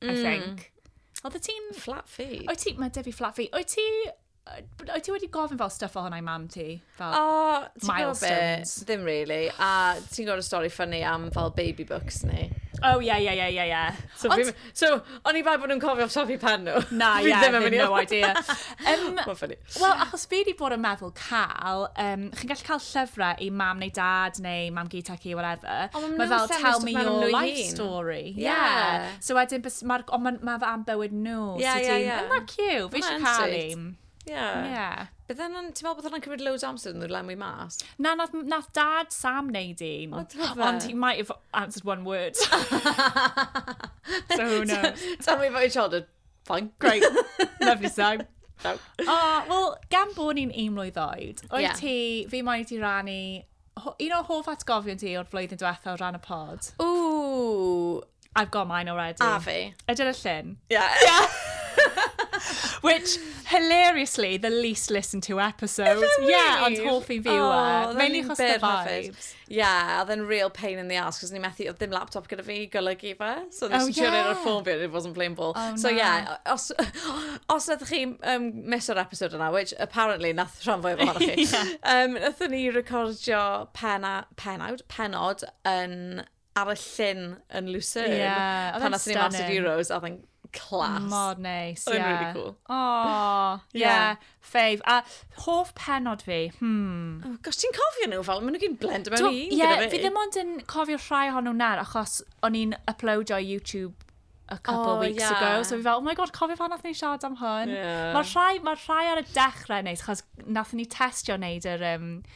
I mm. think. Oedd y ti'n... Flat feet. Oedd ti... Mae Debbie flat feet. Oedd ti... Oedd ti wedi gofyn fel stuff o hwnna i mam ti? Fel o, ti'n gwybod be? Ddim really. A ti'n gwybod y stori ffynnu am fel baby books ni? Oh, yeah, yeah, yeah, yeah, yeah. So, Ond... fi, so o'n i bai bod nhw'n cofio tofi pen nhw. Na, yeah, ddim no idea. Um, Mae'n ffynnu. Wel, achos fi wedi bod yn meddwl cael, um, chi'n gallu cael llyfrau i mam neu dad neu mam gyd tech i, whatever. O, mae fel, tell me your life hun. story. Yeah. yeah. So wedyn, mae'r, ond mae'n ma am bywyd nhw. Yeah, so yeah, yeah. Yn that cute? Fi eisiau cael un. Yeah. Yeah. Bydd hwnna'n, ti'n meddwl bod hwnna'n cymryd loads amser yn nhw'n lenwi mas? Na, nath, nath dad Sam neud un. O, ti'n meddwl? Ond he might have answered one word. so who knows? Tell me about your childhood. Fine. Great. Lovely song. No. O, wel, gan bod ni'n un mlwydd oed, oed yeah. ti, fi moyn i ti rannu un o hoff atgofion ti o'r flwyddyn diwetha o ran y pod. Ooh. I've got mine already. A fi. Ydyn y llun. Yeah. yeah. Which, hilariously, the least listened to episode. Really? Yeah, ond hoff i fi yw e. Oh, Mae'n un chos the vibes. Ie, oedd e'n real pain in the arse, cos ni methu, oedd dim laptop gyda fi i golygu fe. So nes oh, i trio neud o'r ffôn fi, it wasn't playing ball. Oh, so ie, yeah, os, os ydych chi um, mis o'r episod yna, which apparently nath rhan fwy ohonoch chi, yeah. um, nathon ni recordio pena, penawd, penod yn ar y llyn yn Lucerne. Yeah, pan nathon ni Master Euros, oedd e'n class. Mor neis, ie. Oedd e'n really cool. Oh, ie. Yeah. yeah. Fave, a hoff pennod fi, hmm. Oh gosh, ti'n cofio nhw fel, maen nhw gyn blend mewn un gyda fi. Ie, fi ddim ond yn cofio rhai hon nhw'n nawr, achos o'n i'n uploadio i YouTube a couple oh, weeks yeah. ago. So fi fel, oh my god, cofio fan nath ni siarad am hwn. Yeah. Mae'r rhai, ma rhai ar y dechrau neis, chos nath ni testio wneud yr um,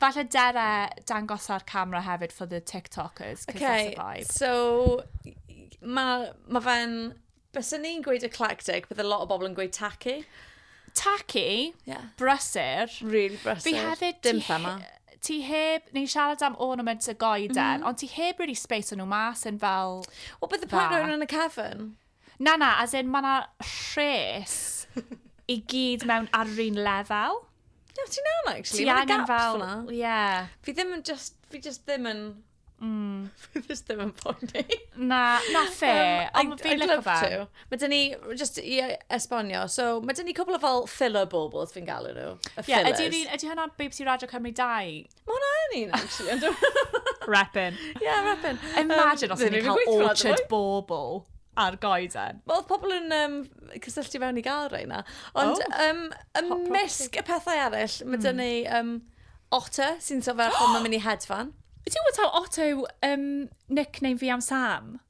Falle Dere dangos ar camera hefyd for the TikTokers, because okay, that's a vibe. so, mae ma fe'n... Bysen ni'n gweud eclectic, bydd a lot o bobl yn gweud tacky. Tacky, yeah. brysur. Really brysur. Fi hefyd... Dim thema. Ti heb, ni'n siarad am ornaments y goeden, mm -hmm. ond ti heb really space o'n nhw mas yn fel... Wel, bydd y pwynt yn y cefn. Na, na, as in, mae yna rhes i gyd mewn ar yr un lefel. Ie, ti'n iawn, actually. Ti angen fel... Ie. Yeah. Fi ddim yn just... Fi just ddim yn... Mm. fi just ddim yn poeni. Na, na fe. Um, Ond fi'n lyfo fe. To. Mae dyn ni, just i e, esbonio, so mae dyn ni cwbl o fel filler baubles fi'n galw nhw. Y yeah, fillers. Ydy, ydy hwnna BBC Radio Cymru 2? Mae hwnna yn un, actually. Ond dwi'n... Repin. Yeah, repin. Imagine os ni'n cael orchard bobl ar goeden. Wel, oedd pobl yn um, cysylltu fewn i gael rhain na. Ond oh. um, ymysg y pethau eraill, mae dyn hmm. ni um, otter sy'n sefyll oh! mae'n mynd i hedfan. Do you know what how Otto um, nickname fi am Sam?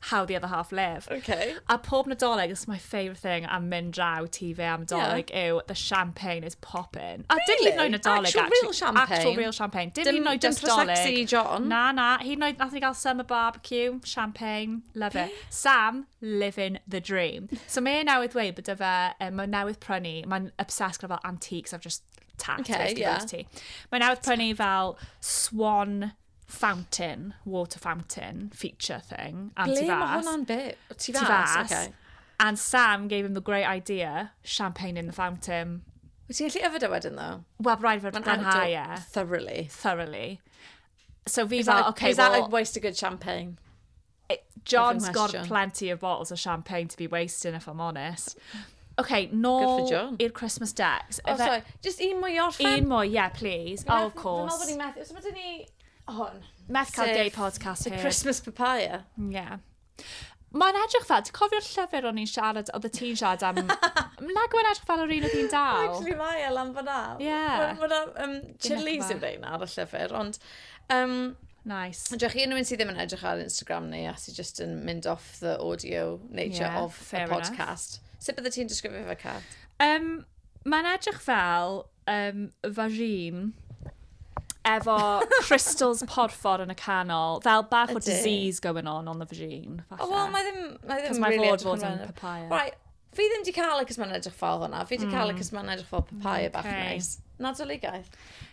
how the other half live. Okay. A pob nadolig, it's my favourite thing am mynd draw ti fe am dolig yeah. yw the champagne is popping. A really? dim hyd yn nadolig, actual actually. real champagne. Actual real champagne. Dim, dim hyd yn oed just dolig. Sexy John. Na, na. Hyd yn oed nath ni gael summer barbecue, champagne, love it. Sam, living the dream. So mae e newydd dweud bod fe, um, mae newydd prynu, mae'n obsessed gyda fel antiques, I've just tapped okay, yeah. ti. Mae newydd prynu fel swan fountain, water fountain feature thing. Am Ble mae hwnna'n bit? Ti fas? Ti fas. Okay. And Sam gave him the great idea, champagne in the fountain. Wyt ti'n gallu yfed o e wedyn, ddo? Wel, rhaid fod glanhau e. Thoroughly. Thoroughly. So fi fel, okay, well... Is that a waste of good champagne? John's got plenty of bottles of champagne to be wasting, if I'm honest. OK, nôl i'r Christmas decks. Oh, sorry, just un mwy o'r fan. Un mwy, yeah, please. Oh, of course. Dwi'n meddwl bod ni'n methu, so bod ni... Hwn. Meth cael day podcast here. The Christmas papaya. Yeah. Mae'n edrych fel, ti'n cofio'r llyfr o'n i'n siarad, oedd y ti'n siarad am... Nag o'n edrych fel yr un oedd hi'n dal. Actually, mae e lan fyna. Yeah. Mae'n um, chilies yn rhain ar y llyfr, ond Um, Nice. Ond chi unrhyw un sydd ddim yn edrych ar Instagram ni a sydd just yn mynd off the audio nature yeah, of the podcast. Enough. Sut bydde ti'n disgrifio fe, Cath? Um, Mae'n edrych fel um, vagine efo crystals porffor yn y canol, fel bach o disease going on on the vagine. Oh, well, mae ddim, mae ddim really edrych yn papaya. Right, Fi ddim di cael y cys mae'n edrych fel hwnna. Fi di cael y cys mae'n edrych fel papaya bach okay. neis. Nadoligaidd.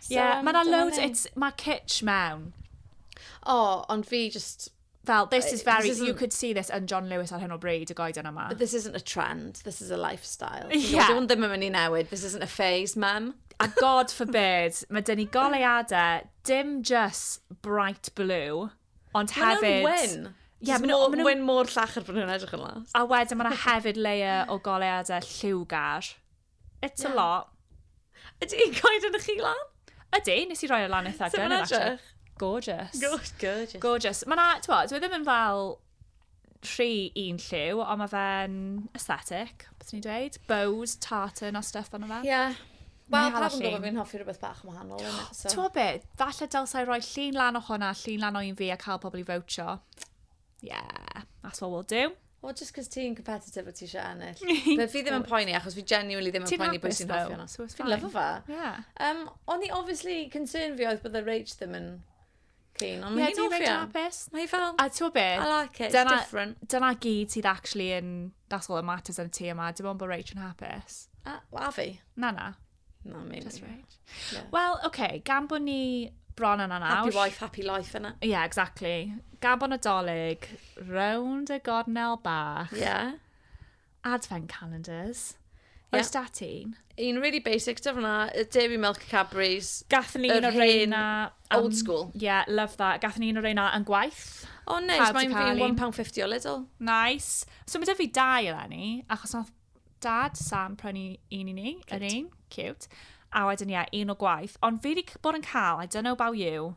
Ie, yeah, um, mae yna loads, mae kitsch mewn. O, oh, ond fi just fel, this is very, this you could see this yn John Lewis ar hyn o bryd, y goeden yma. But this isn't a trend, this is a lifestyle. Yeah. Dwi'n ddim yn mynd i newid, this isn't a phase, mum. A God forbid, mae dyn ni goleuadau, dim just bright blue, Ond hefyd... Mae nhw'n wyn! Ie, mae nhw'n wyn mor llachar bod nhw'n edrych yn las. A wedyn mae yna hefyd layer o goleuadau lliwgar. It's yeah. a lot. Ydy i'n coed yn y chi lan? Ydy, nes i roi ar e lan eitha gynnydd. Gorgeous. Gorgeous. Gorgeous. Mae yna, ti'n bod, dwi e ddim yn fel rhy un lliw, ond mae fe'n aesthetic, beth ni'n dweud? Bows, tartan a stuff ond fe. Ie. Yeah. Wel, pa fi'n gwybod fi'n hoffi rhywbeth bach yn wahanol. So. Ti'n gwybod beth? Falle dylsau roi llun lan o hwnna, llun lan o un fi a cael pobl i fawtio. Yeah, that's what we'll do. O, just cos ti'n competitive o ti eisiau ennill. Fe fi ddim yn poeni, achos fi genuinely ddim yn poeni bwys i'n hoffi hwnna. Fi'n lyfo fe. Yeah. Um, o'n i obviously concern fi oedd bod y rage ddim yn Cyn, ond mae hi'n off iawn. Mae hi fel... A ti'n be? I like it, it's dyna, different. Dyna gyd sydd actually yn... That's all that matters yn y tŷ yma. Dim ond bod Rach yn hapus. A, a fi? Na, na. Na, mi. Just Rach. Yeah. Wel, oce, okay, gan bod ni bron yna nawr. Happy wife, happy life yna. Ie, yeah, exactly. Gabon Nadolig, rownd y gornel bach. Ie. Yeah. Advent calendars. Ie. Oes da ti un? Un really basic, dyf hwnna, y Dairy Milk Cadbury's. Gathon ni Yr un o'r hen reina... old school. Yeah, love that. Gathon ni un o'r reina yn gwaith. O neis, Pawb 'di mae'n cael fi'n un. £1.50 o Lidl. Nice. So mae 'da fi dau eleni, achos nath dad Sam prynu un i ni, yr Cute. un, cute. A wedyn ie, un o gwaith. Ond fi wedi c- bod yn cael, I don't know about you,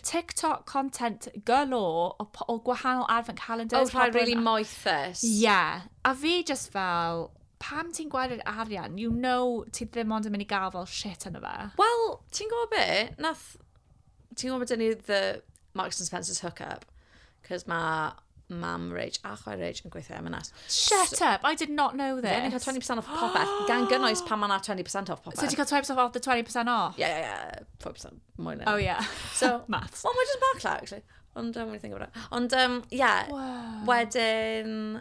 TikTok content galore o, po- o gwahanol advent calendars. Oh, rhaid pobl yn- really moethus. Ie. Yeah. A fi just fel, pam ti'n gweld yr arian? You know ti ddim ond yn mynd i gael fel shit yna fe. Wel, ti'n gwybod be? Nath... Ti'n gwybod bod dyn ni the Marks and Spencer's hookup? Cos mae mam Rich a chwaer Rich yn gweithio M&S. Shut so, up, I did not know this. Ie, ni'n cael 20% off popeth, gan gynnwys pan mae yna 20% off popeth. So ti'n cael 20% off the 20% off? Ie, ie, ie, 4% mwy na. Oh, ie. Yeah. So, maths. Wel, mae'n just bach llaw, actually. Ond, um, think about it. Ond, um, yeah. Wow. Wedyn,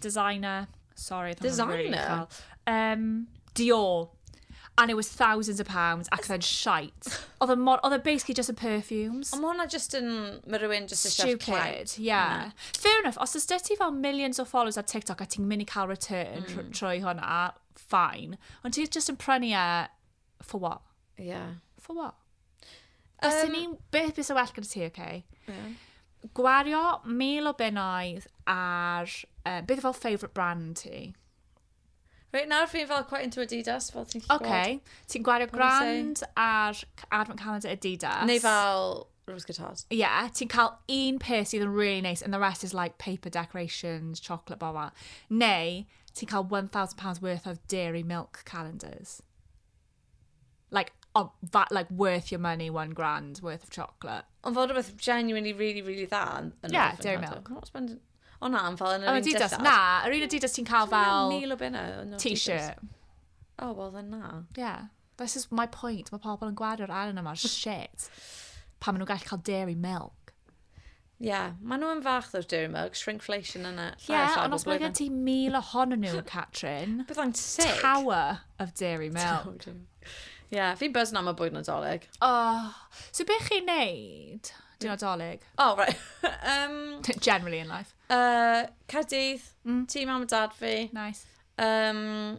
Designer. Sorry, oedd hwnna'n really Designer? uchel. Um, Dior. And it was thousands of pounds ac oedd e'n shite. Oedd e mor... Oedd e basically just yn perfumes. Ond mae hwnna just yn... Mae rhywun just eisiau clout. Stupid, yeah. Fair enough, os ys ti fel millions o followers ar TikTok a ti'n mynd i cael return tr- trwy hwnna, fine. Ond ti just yn prynu e For what? Yeah. For what? Os um, ni'n beth bys y well gyda ti, okay? Yeah. Gwario mil o bennoedd ar... Uh, beth fel favourite brand ti? Reit, nawr fi'n fel quite into Adidas, fel ti'n gallu okay. gweld. Ti'n gwario grand ar advent calendar Adidas. Neu fel Rose guitars. Ie, yeah, ti'n cael un peth sydd yn really nice and the rest is like paper decorations, chocolate, blah, blah. Neu, ti'n cael £1,000 worth of dairy milk calendars. Like, of, that, like worth your money, one grand worth of chocolate. Ond fod rhywbeth genuinely really, really dda yn yn Yeah, Orphan Dairy House. Milk. I'm not spending... O na, yn fel yn yr Yr un Adidas, dillad. na, yr un Adidas ti'n cael Dwi'n meddwl fel Mil o bunna. yn Adidas. t-shirt. O, wel, then na. Yeah. This is my point. Mae pobl yn gwario'r arian yma ar shit pan maen nhw'n gallu cael dairy milk. Ie, yeah, maen nhw'n fach o'r dairy milk, shrinkflation yna. Ie, yeah, ond os mae gen ti mil ohonyn nhw, Catrin. Byddai'n sick. Tower of dairy milk. Ie, yeah, fi'n buzz na mae bwyd yn adolyg. Oh, so beth chi'n neud? Dwi'n adolyg. Oh, right. um, Generally in life. Uh, Cadydd, mm. ti mam a dad fi. Nice. Um,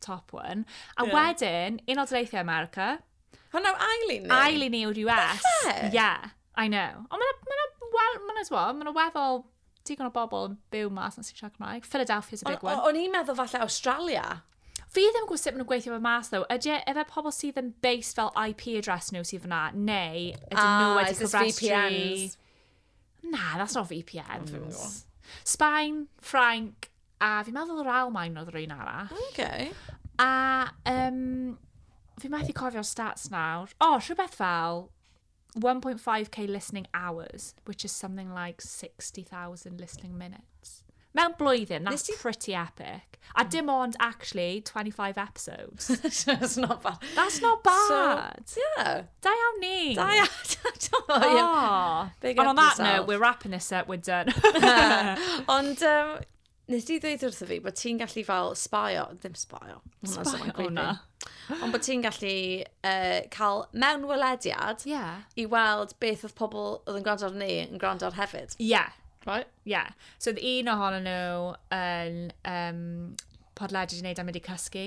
top one. A yeah. wedyn, un o dreithiau America. Hwna yw ail un ni? Ail un ni yw'r US. Falle? Yeah, I know. Ond mae'n ma well, ma ma ma ma weddol digon o bobl yn byw mas yn sy'n siarad Cymraeg. Philadelphia is a big one. O'n i'n meddwl falle Australia. Fi ddim yn gwybod sut maen nhw'n gweithio fe mas, ddo. Ydy e, efe pobl sydd yn based fel IP address nhw sydd fyna, neu ydyn ah, nhw wedi cofrestru... Na, that's not VPNs. Sbaen, Ffrainc, A fi'n meddwl yr Almaen oedd yr un arall. Okay. A um, fi methu cofio'r stats nawr. O, oh, rhywbeth fel 1.5k listening hours, which is something like 60,000 listening minutes. Mewn blwyddyn, that's ti... pretty epic. A dim ond, actually, 25 episodes. that's not bad. That's not bad. So, yeah. Da iawn ni! Da iawn! O, ie. Oh. Big And on that yourself. note, we're wrapping this up, we're done. Ond, um, nes di ddweud wrtho fi bod ti'n gallu fel sbaio, ddim sbaio. Sbaio, o na. Ond bod ti'n gallu uh, cael mewn welediad yeah. i weld beth oedd pobl oedd yn gwrando ar ni yn gwrando ar hefyd. Ie. Yeah. Right? Ie. Yeah. So, oedd un ohono nhw yn um, podlediad i wneud am wedi cysgu.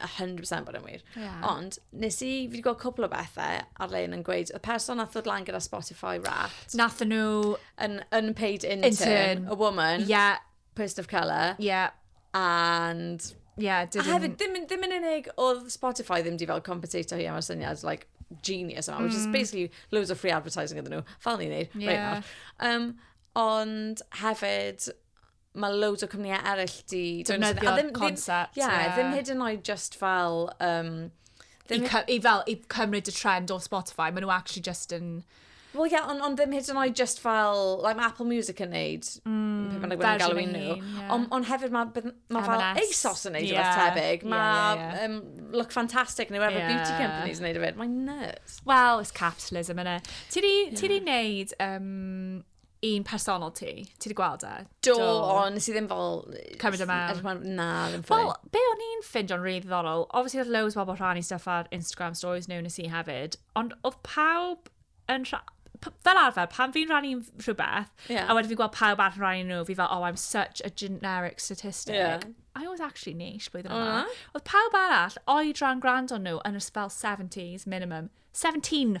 100% bod yn wir. Yeah. Ond, nes i, fi wedi gweld cwpl o bethau ar lein yn gweud, y person nath ddod lan gyda Spotify Wrapped. Nath nhw... An unpaid intern, intern. a woman. Yeah. Person of colour. Yeah. And... Yeah, didn't... A hefyd, ddim, ddim yn unig oedd Spotify ddim di fel compensatio hi am y syniad, like, genius yma, mm. which is mm. basically loads of free advertising iddyn nhw. Fel ni'n neud, yeah. right nawr. Um, ond hefyd, mae loads o cwmnïau eraill di... Defnyddio'r concept. Ie, ddim hyd yn oed just fel... Um, I, I fel, i cymryd y trend o Spotify, maen nhw actually just yn... Wel, ie, ond on ddim hyd yn oed just fel, like mae Apple Music yn neud, mm, pe bynnag wedi galw nhw. Yeah. Ond on hefyd mae ma fel ASOS yn neud yeah. rhywbeth tebyg. Mae yeah, yeah, yeah. um, Look Fantastic neu whatever yeah. beauty companies yn neud o fyd. Mae'n nuts. Well, it's capitalism, yna. Ti di, yeah. ti di neud um, un personol ti. Ti wedi gweld e? Do, Do. o, nes i ddim fel... Cymryd e mewn. Er na, ddim ffwyl. Wel, be o'n i'n ffind o'n rhaid ddorol, obviously oedd loads bobl rhan i stuff ar Instagram stories nhw nes i hefyd, ond oedd pawb yn rhan... Fel arfer, pan fi'n rhan i'n rhywbeth, yeah. a wedyn fi'n gweld pawb arall yn rhan i nhw, fi fel, oh, I'm such a generic statistic. Yeah. I was actually niche blwyddyn yma. Oedd pawb arall, oed rhan gwrando nhw, yn ysbel 70s minimum. 17!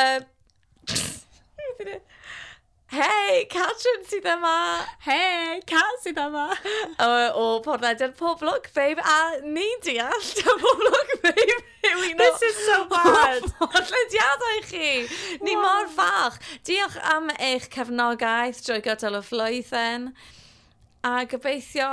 Um, Hei, Catrin sydd yma! Hei, Cat sydd yma! o, o Porthaedau'r Poblwg, babe, a ni'n deall ta Poblwg, babe, yw un o... This is so bad! Podlediadau chi! Ni mor fach! Diolch am eich cefnogaeth drwy gydol y flwyddyn. A gobeithio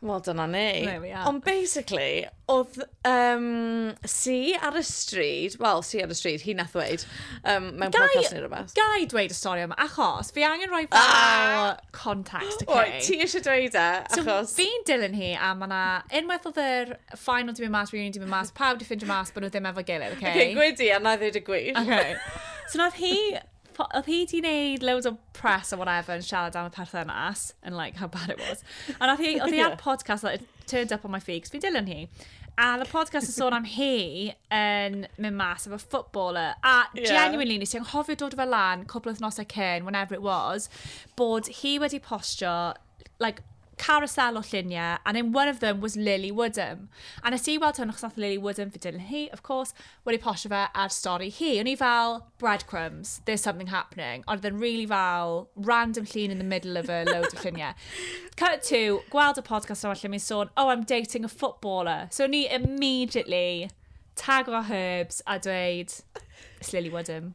Wel, dyna ni. There we are. Ond basically, oedd um, si ar y stryd, wel, si ar y stryd, hi nath ddweud, um, mewn Gai- podcast neu rhywbeth. Gai dweud y stori yma, achos fi angen rhoi fel Ah! context, okay? Oi, ti eisiau dweud e, So, achos... fi'n dilyn hi, a mae yna unwaith oedd yr final di mynd mas, reunion di mynd mas, pawb di ffindio mas bod nhw ddim efo gilydd, okay? Okay, gwedi, a na ddweud y gwir. Okay. So nath hi oedd hi di wneud loads o press or whatever yn siarad am y perthynas, and like how bad it was. A nath hi, oedd hi ar podcast, like, it turned up on my feed, cos fi'n dilyn hi. A the podcast yn sôn am hi yn mynd mas efo footballer. A yeah. genuinely, nes i anghofio dod o fe lan, cwbl wythnosau cyn, whenever it was, bod hi wedi postio like, carousel o lluniau, and then one of them was Lily Woodham. A nes i weld hwn, achos nath Lily Woodham fi dilyn hi, of course, wedi postio fe ar stori hi. O'n i fel, breadcrumbs, there's something happening. Ond oedd yn really fel, random llun in the middle of a load of lluniau. Cut to, gweld y podcast yma lle mi'n sôn, oh, I'm dating a footballer. So o'n i immediately tagro herbs a dweud, it's Lily Woodham.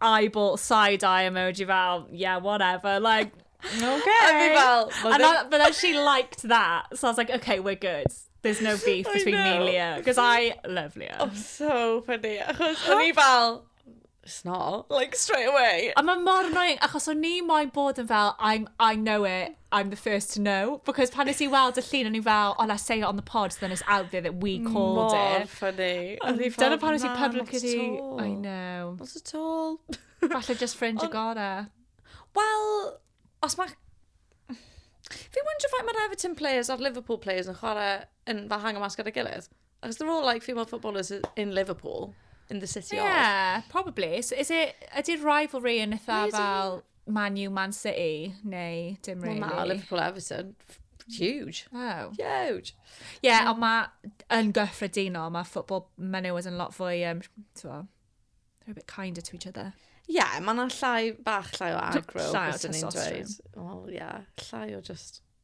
eyeball side eye emoji fel, yeah, whatever, like... OK! A fi fel... And I, but then she liked that, so I was like, OK, we're good. There's no beef between me and Leah, because I love Leah. I'm so funny, achos o'n i fel... It's not, like, straight away. A mae mor annoying, achos o'n i moyn bod yn fel, I'm, I know it, I'm the first to know, because pan nes i weld y llun, o'n i fel, oh, let's say it on the pod, then it's out there that we called Mor it. Mor ffynnu. Dyna pan nes i public ydi... I know. Not at all. Falle just ffrind y gore. Wel, os mae... Fi wonder faint mae'r Everton players a'r Liverpool players yn chwarae yn fel hang o mas gyda'i gilydd. Achos they're all like female footballers in Liverpool, in the city yeah, of. Ie, probably. So is it, ydy'r rivalry yn eitha Really? fel Man U, Man City, neu dim Wel really? na, Liverpool Everton. Huge. Oh. Huge. Ie, yeah, ond mae yn gyffredinol, mae football menywod yn lot fwy, um, t'mo, they're a bit kinder to each other. Ie, yeah, mae yna llai, bach llai o agro. Llai o byswn i'n dweud. testosterone. Wel, ie, yeah, llai o just...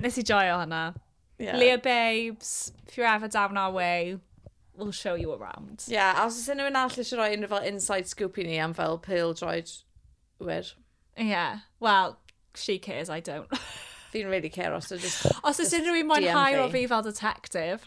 Nes i joio hwnna. Yeah. Leah Babes, if you're ever down our way, we'll show you around. Ie, yeah, a os oes unrhyw un all eisiau rhoi unrhyw fel inside scoop i ni am fel pil droed wir. Ie, yeah. well, she cares, I don't. Fi'n really care os ydw just... Os oes unrhyw un mwynhau o fi fel detective.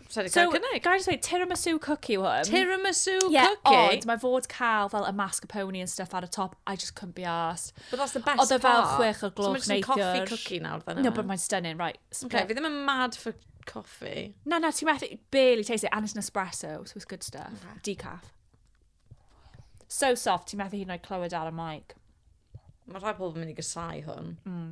Sorry, so, gael cynnig. Gael dweud, tiramisu cookie yw hwn. Tiramisu yeah, cookie? Ie, ond mae fod cael fel y mascarpone and stuff ar y top, I just couldn't be asked. But that's the best part. Oedd e fel chwech o gloch neithiwr. So mae'n coffee cookie nawr, then. No, but mae'n stunning, right. Okay, fi ddim yn mad for coffee. Na, na, ti'n methu, barely taste it, and it's an espresso, so it's good stuff. Okay. Decaf. So soft, ti'n methu hyn o'i clywed ar y mic. Mae rhai pobl yn mynd i gysau hwn. Mm.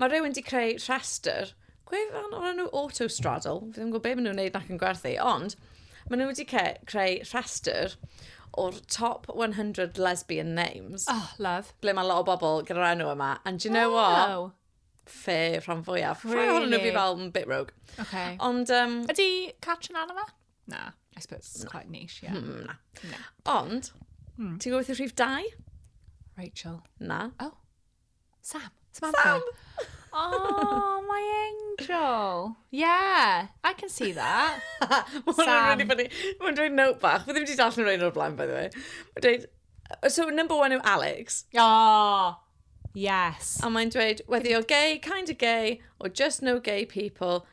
Mae rhywun wedi creu rhestr gwefan o'r enw Autostraddle. Fi ddim yn gwybod beth maen nhw'n gwneud nac yn gwerthu, ond maen nhw wedi creu rhestr o'r top 100 lesbian names. Oh, love. Ble mae lot o bobl gyda'r enw yma. And do you know wow. what? Fe rhan fwyaf. Really? Rhan hwnnw fi fel yn bit rogue. Okay. Ond... Um, Ydy Catrin Anna fe? Na, I suppose it's quite niche, yeah. Mm, na. na. Ond, mm. ti'n gwybod beth yw rhif dau? Rachel. Na. Oh. Sam! Samantha! Sam! oh, my angel. Yeah, I can see that. Sam. Mae'n dweud note bach. Mae ddim wedi darllen rhaid o'r blaen, by the way. Mae'n dweud, so number one yw Alex. Oh, yes. A mae'n dweud, whether you're gay, kind of gay, or just no gay people,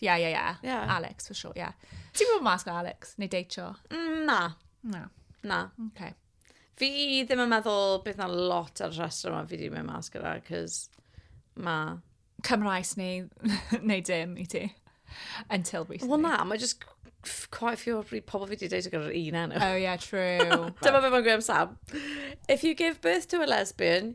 Ie, ie, ie. Ie. Alex, for sure, ie. Ti'n mynd mas gyda Alex? Neu deitio? Mm, Na, Na. na. Okay. Fi ddim yn meddwl bydd na lot ar y rhestr yma fi wedi mynd mas gyda, cos ma... Cymraes neu, neu dim i ti. Until recently. Wel na, mae just f- quite a few o'r bryd pobl fi wedi deud gyda'r un enw. Oh, yeah, true. Dyma beth mae'n gweud am Sam. If you give birth to a lesbian,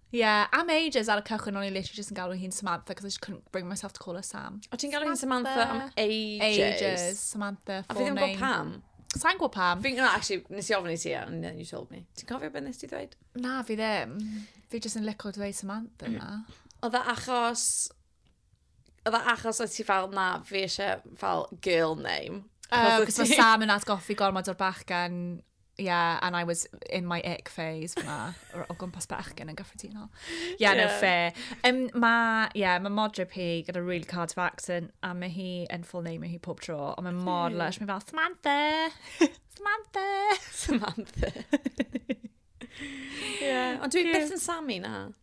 Yeah, am ages ar y cychwyn o'n i literally just yn galw hi'n Samantha because I just couldn't bring myself to call her Sam. O ti'n galw hi'n Samantha am ages? Ages, Samantha, A fi ddim yn gwybod pam. Sa'n gwybod pam. Fi'n, no, actually, nes i ofyn i ti, and then you told me. Ti'n cofio beth nes ti ddweud? Na, fi ddim. Fi just yn licio dweud Samantha na. Oedd e achos Oedd e achos oedd ti fel, na, fi eisiau fel girl name. Uh, Cos mae Sam yn atgoffi gormod o'r bachgen, yeah, and I was in my ick phase fyna, o gwmpas bachgen yn gyffredinol. Yeah, yeah. no, fair. Um, mae, yeah, mae modryb hi gyda really hard of accent, a mae hi yn full name hi pob tro, ond mae mor hmm. lush, mae fel, Samantha! Samantha! Samantha. yeah. Ond dwi yeah. beth yn Sammy na.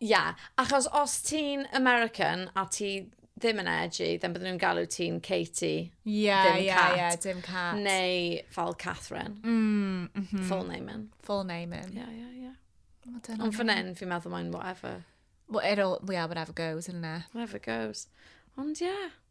Ie, achos os ti'n American a ti ddim yn edgy, then bydden nhw'n galw ti'n Katie, Ie, dim ie, Cat. ie, dim Cat. Neu fel Catherine, Mm, mhm. full name in. Full name in. Ie, ie, ie. O, dyna Ond fe. fan hyn, fi'n meddwl mae'n whatever. Well, it all, yeah, whatever goes, isn't it? Whatever goes. Ond ie.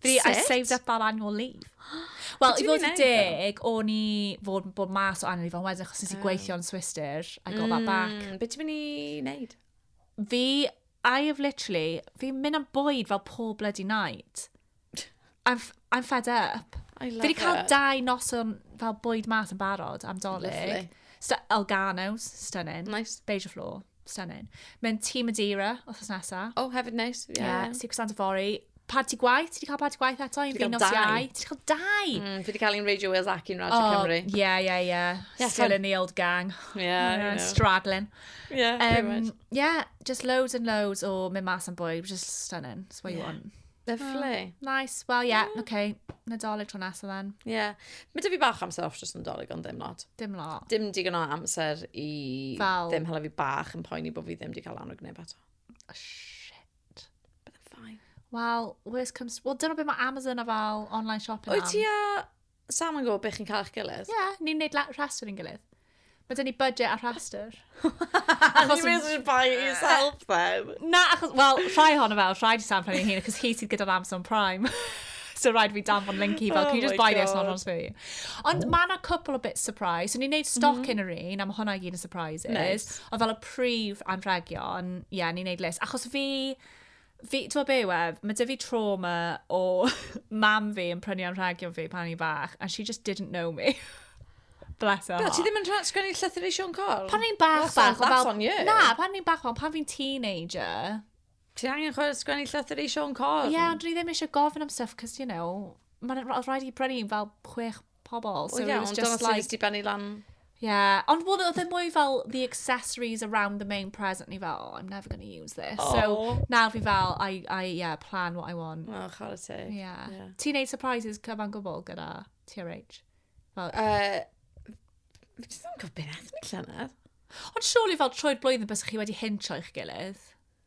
Fi, I Sut? saved up our annual leave. Wel, i Be' ti'n fod yn mynd i neud, deg, o'n i fod, bod mas o annual leave, ond wedyn achos nes i Oh. gweithio yn Swister, I got that back. Mm, Be ti'n mynd i wneud? Fi, I have literally, fi'n mynd am bwyd fel pob bloody night. I'm, f- I'm fed up. I love Fi wedi cael it. dau noson fel bwyd mas yn barod am dolyg. Lovely. Stu- Elganos, stunning. Nice. Beige o floor. Stunning. Mae'n Tîm Madeira, othos nesa. Oh, hefyd neis. Ie, yeah, yeah. Secret Santa Fori. Party gwaith, ti wedi cael party gwaith eto? Ti wedi cael dau. Ti wedi cael dau? Mm, fi wedi cael un Radio Wales ac un Radio oh, Cymru. Ie, ie, ie. Still in the old gang. Ie, yeah, yeah. Straddling. Ie, yeah, um, pretty much. Yeah, just loads and loads o mynd mas am bwy, just stunning. It's what yeah. you want. Lyflu. Oh, nice. Wel, ie, yeah, yeah. oce. Okay. Nadolig tro nesaf then. Ie. Yeah. Mae dy fi bach amser off dros nadolig ond ddim lot. Dim lot. Dim digon o amser i... Fel... Ddim hala fi bach yn poeni bod fi ddim di cael annog neb ato. Oh, shit. But I'm fine. Wel, worst comes... Wel, dyna beth mae Amazon a fel online shopping am. Wyt ti a... Sam yn gwybod beth chi'n cael eich gilydd. Ie, yeah, ni'n neud rhastr yn gilydd. Mae dyn ni budget a rhastr. achos ni'n mynd buy yourself then. Na, achos, wel, rhai hon o fel, rhaid i Sam prynu hyn, achos hi sydd gyda'r Amazon Prime. so rhaid fi danfon link i fel, oh can you just buy God. this not on me? Ond mae yna cwpl o bit surprise. So ni'n neud stock mm -hmm. yn yr un, a mae hwnna i gyd yn surprises. Nice. Ond fel y prif anrhegion, ie, yeah, ni'n neud list. Achos fi, Fi, ti'n gwybod be yw e? Mae 'da fi trauma o mam fi yn prynu anrhegion fi pan o'n i'n fach, and she just didn't know me. Bless her Be, ti heart. ddim yn rhan sgwennu llythyr i Siôn Corn? Pan o'n i'n bach, That's bach, on- that's on you. Na, pan o'n i'n bach, ond pan fi'n teenager. Ti angen chwe- sgwennu llythyr i Siôn Corn? Ie, ond dwi ddim eisiau gofyn am stuff, cos, you know, mae'n rhaid i brynu fel chwech pobl. So well, yeah, it was just like... Ond benni lan. Yeah, ond well, oedd e mwy fel the accessories around the main present ni fel, oh, I'm never going to use this. Oh. So nawr fi fel, I, I, yeah, plan what I want. Oh, chwarae teg. Yeah. yeah. Ti'n neud surprises cyfan gwbl gyda TRH? Fel... Uh, fi ddim yn gwybod beth ni llynedd. Ond surely fel troed blwyddyn bys chi wedi hincho i'ch gilydd.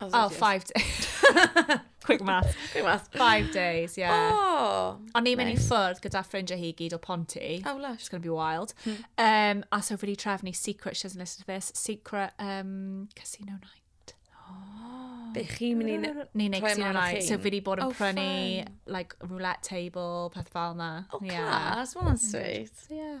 Oh, oh five days. Quick math. Quick math. Five days, yeah. Oh, O'n i'n mynd i ffwrdd gyda ffrindiau hi gyd o Ponty. Oh, lush. It's going to be wild. Hmm. Um, a so fi wedi trefnu Secret, she doesn't listen to this, Secret um, Casino Night. Oh. Be chi'n mynd i'n... Ni'n neud Casino Night. So fi wedi bod yn oh, prynu, like, roulette table, peth fel na. Oh, yeah. class. Well, that's sweet. Yeah.